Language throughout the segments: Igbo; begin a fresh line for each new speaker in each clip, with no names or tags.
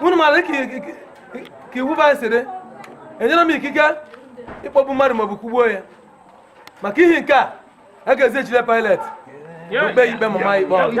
unu mara ka iwu ba siri enyere m ikike ịkpọgbu mmadụ maọbụ kugbuo ya maka ihe nke a a ga-ezijere pailet o kpee ya ikpe ma maa ikpe ọnwụ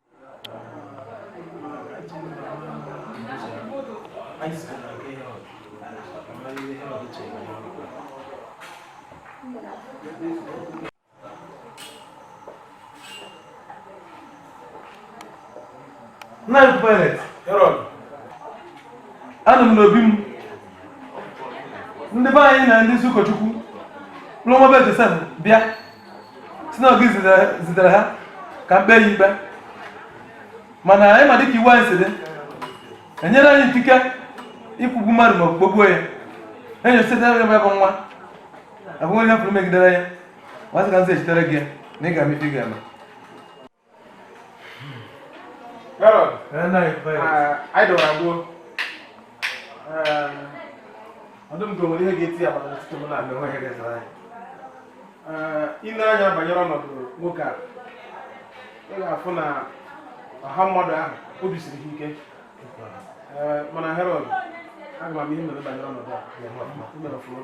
Nna anyị Pilate. Herod. Anọ m n'obi m. Ndị be anyị na ndị isi ụkọchukwu. Duo nwa be Josef bịa. sị na ọ gị zitere ha ka m kpee ya ikpe mana anyị ma dịka iwu anyị si dị enyere anyị ikike ịkwụgbu mmadụ ma kpọgbuo ya enyo site ya bụ nwa ahụghị onye pụrụ megidere ya m asị ka m zighachitere gị na ị ga-eme ife ị ga-eme Herod, anyị dọwara gbuo ọdụm gowere ihe ga-eti ya maka ọtụtụ m na mgbe nweghị rezara anyị ile anya banyere ọnọdụ nwoke a ị ga-afụ na ọha mmadụ ahụ obi siri ha ike mana Herod aga m ihe mere banyere ọnọdụ a mere ọfụma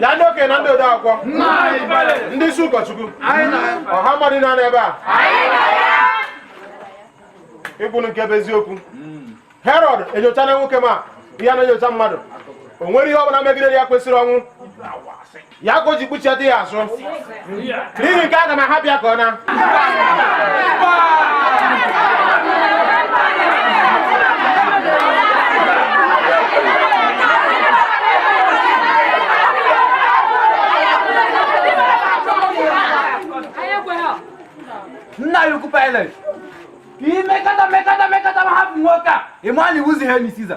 bịa ndị okenye na ndị ode akwụkwọ ndị isi ụkọchukwu ọha mmadụ nọ ebe a kwuonụ nke bụ eziokwu herod enyochana nwoke ma ihe na-enyocha mmadụ o nwere ihe ọ bụla megidere ya kwesịrị ọnwụ ya ka o ji kpụchiata ya azụ n'ihi nke a aga m ahapụ ya ka ọ naa nna anyị ukwu pilate ka i mekọta mekọta mekọta ma hapụ nwoke a ị ma na ị wụzịghị enyi siza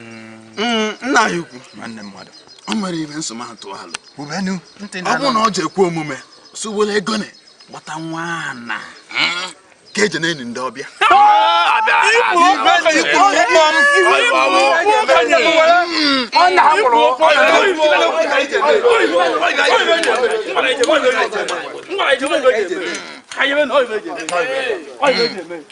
Mm, nna ya ukwu nwanne mmadụ o mere ihe nsọ ma tụọ alụ ọ bụrụ na ọ ji ekwe omume so were ego na gbata nwa ana ka eji na-eni ndị ọbịa ọ na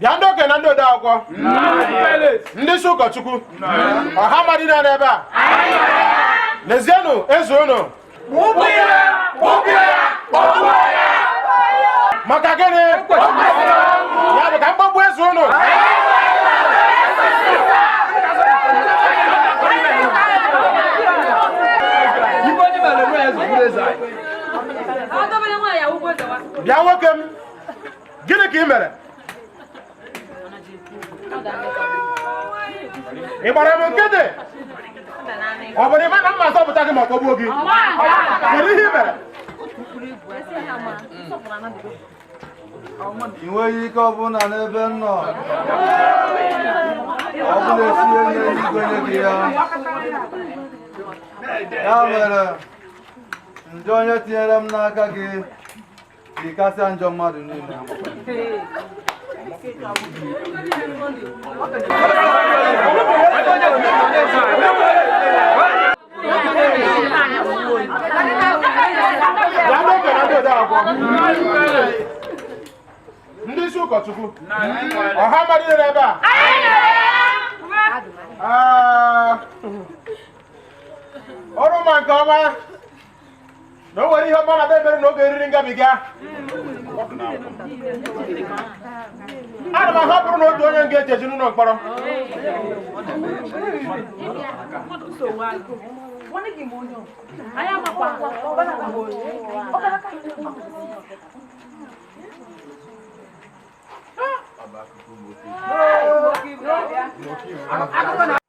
bịa ndị okenye na ndị ode akwụkwọ ndị isi ụkọchukwu ọha mmadụ niile nọ ebe a lezienụ eze unu maka gịnị ya bụ ka m kpọgbuo eze unu bịa nwoke m gịnị ka ị mere ị gbara m nkịtị ọ bụ na ị ma na m ga-azọpụta gị ma kpọgbuo gị kedu ihe ị mere ị nweghị ike ọbụla n'ebe m nọ ọ bụ e si n'eluigwe nye gị ya ya mere njọ onye tinyere m n'aka gị Ị kasị njọ mmadụ niile. ndị isi ụkọchukwu ọha mmadụ niile ebe a unu ma nke ọma na o nwere ihe ọma m na-emere unu n'oge eriri ngabiga ana m ahapụrụ unu otu onye nga e ji eji n'ụlọ mkpọrọ Hey!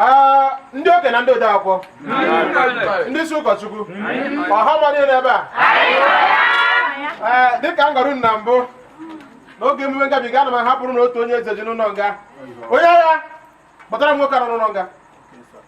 Ah, ndị okenye na ndị ode akwụkwọ ndị isi ụkọchukwu ọha mmadụ nọ ebe a ee dịka m gwara unu na mbụ n'oge emume ngabiga ana m ahapụrụ unu otu onye e ji eji n'ụlọ nga onye agha kpọtara m nwoke a nọ n'ụlọ nga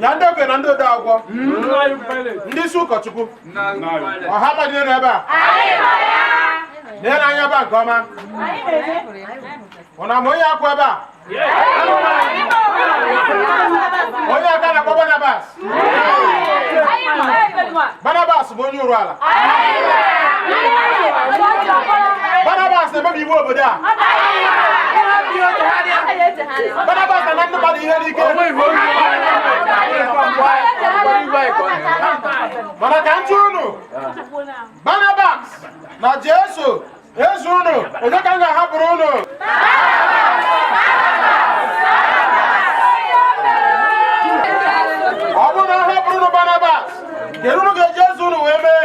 na ndị okenye na ndị ode akwụkwọ ndị isi ụkọchukwu ọha mmadụ niile nọ ebe a leenụ anya ebe a nke ọma unu ma onye a kwụ ebe a onye a ka a na-akpọ Barabbas Barnabas bụ onye ụrụ ala Barnabas na-emebi iwu obodo a Barnabas na-ana ndị mmadụ ihe n'ike mana ka m jụọ unu Barnabas na Jesu eze unu onye ka m ga-ahapụrụ unu ọ bụrụ na m hapụrụ unu Barnabas kedu ihe unu ga-eji eze unu wee mee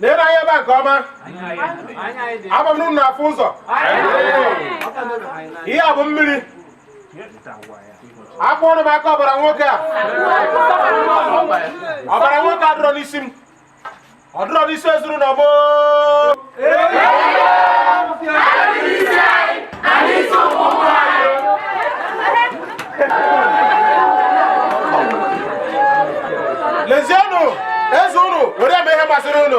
leenụ anya ebe a nke ọma ama m na unu afụ ụzọ ihe a bụ mmiri akwọrọ m aka ọbara nwoke a ọbara nwoke a adịrọ n'isi m ọ dịrọ n'isi ezuru na ọgbọ lezienụ eze unu were mee ihe masịrị unu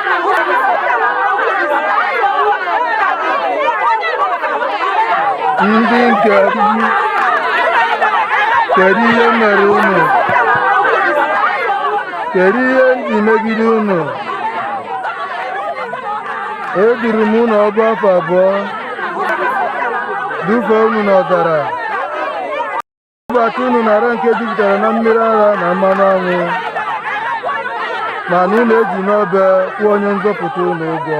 ndị nke m kedu ihe m mere unu kedu ihe m ji megide unu eduru m unu ọgụ afọ abụọ dufee unu n'ọzara Dubata unu n'ala nke jupụtara na mmiri ara na mmanụ anwụ mana unu ejiri obe kwụọ onye nzọpụta unu ụgwọ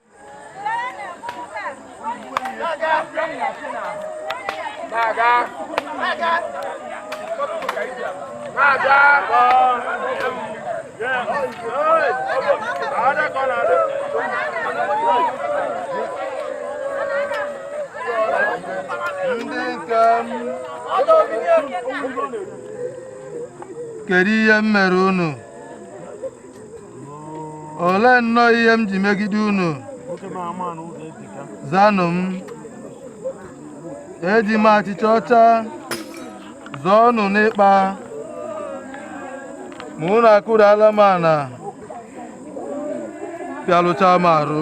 kedu ihe m mere unu olee nnọọ ihe m ji megide unu zanụ m eji m achịcha ọcha zụọ unu n'ikpa ma unu akụrụala m ala pịalụchaa m arụ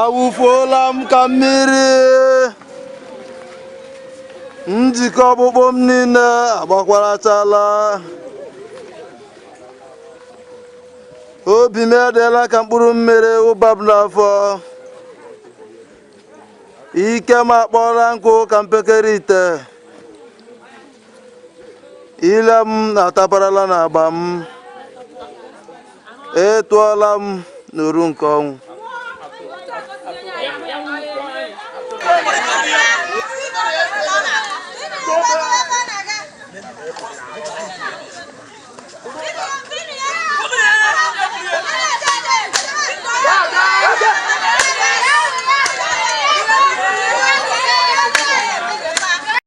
awụfuola m ka mmiri njikọ ọkpụkpụ m niile agbakwarachala obi m edeela ka mkpụrụ mmiri wụba m n'afọ ike m akpọọla nkụ ka mpekere ite ile m ataparala na agba m ị tụọla m n'oru nke ọnwụ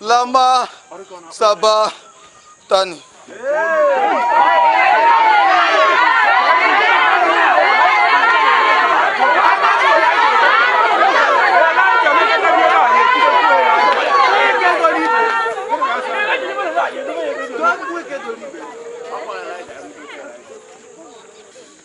lama saba tani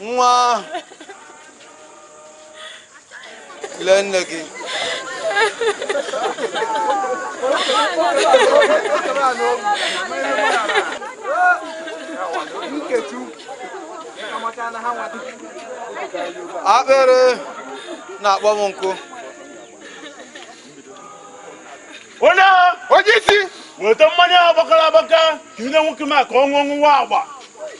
nwa lee nne gị akpịrị na-akpọ m nkụ onye onye isi weta mmanya agbakọrọ agbakọ ka i nye nwoke m a ka ọ ṅụọ ṅụwa agba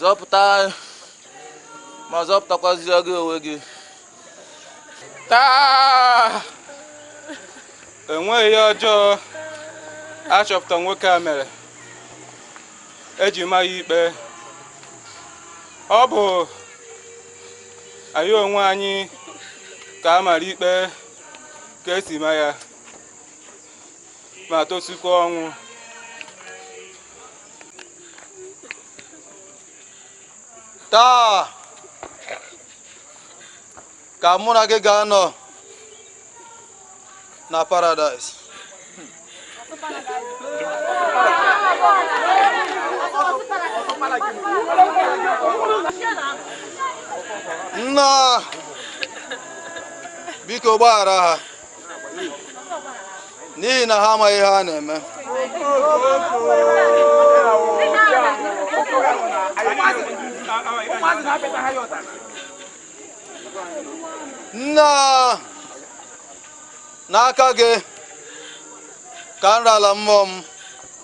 zọpụta m ma zọpụtakwazie gị onwe gị taa enweghị ihe ọjọọ a chọpụta nwoke a mere e ji ma ya ikpe ọ bụ anyị onwe anyị ka a mara ikpe ka e si ma ya ma tosikwa ọnwụ taa ka mụ na gị ga-anọ na paradaịs nna biko gbaghara ha n'ihi na ha amaghị ihe ha na-eme nna n'aka gị ka m rara mmụọ m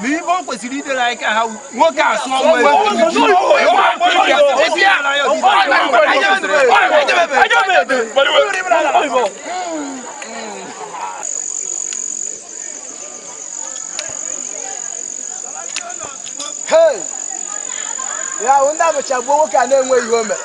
n'ihe o kwesịrị idere anyị ka ha nwoke a sụ ọ wụ eze ala ya ya ahụ ndị abụcha gbuo nwoke a na-enweghị ihe o mere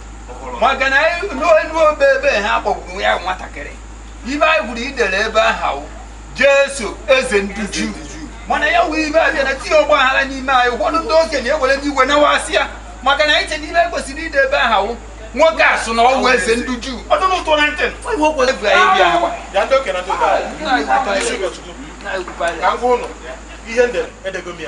maka na n'elu obe ebe ha kpọgburu ya nwatakịrị ibe anyị gụrụ ihe e dere ebe ahụ wụ jesu eze ndị juu mana ya wee ibe abịa na tinye ọgba aghara n'ime anyị ụfọdụ ndị okenye ewere iwe na-asị ya maka na anyị che n'ihe e kwesịrị ide ebe ahụ wụ nwoke a sụ na ọ wụ eze ndị juu ọ dụrụ ụtọ na ntị ebu anyị bịa agwa ya ndị okenye na ndị ụbara ka m gwa ụnụ ihe m dere edego m ya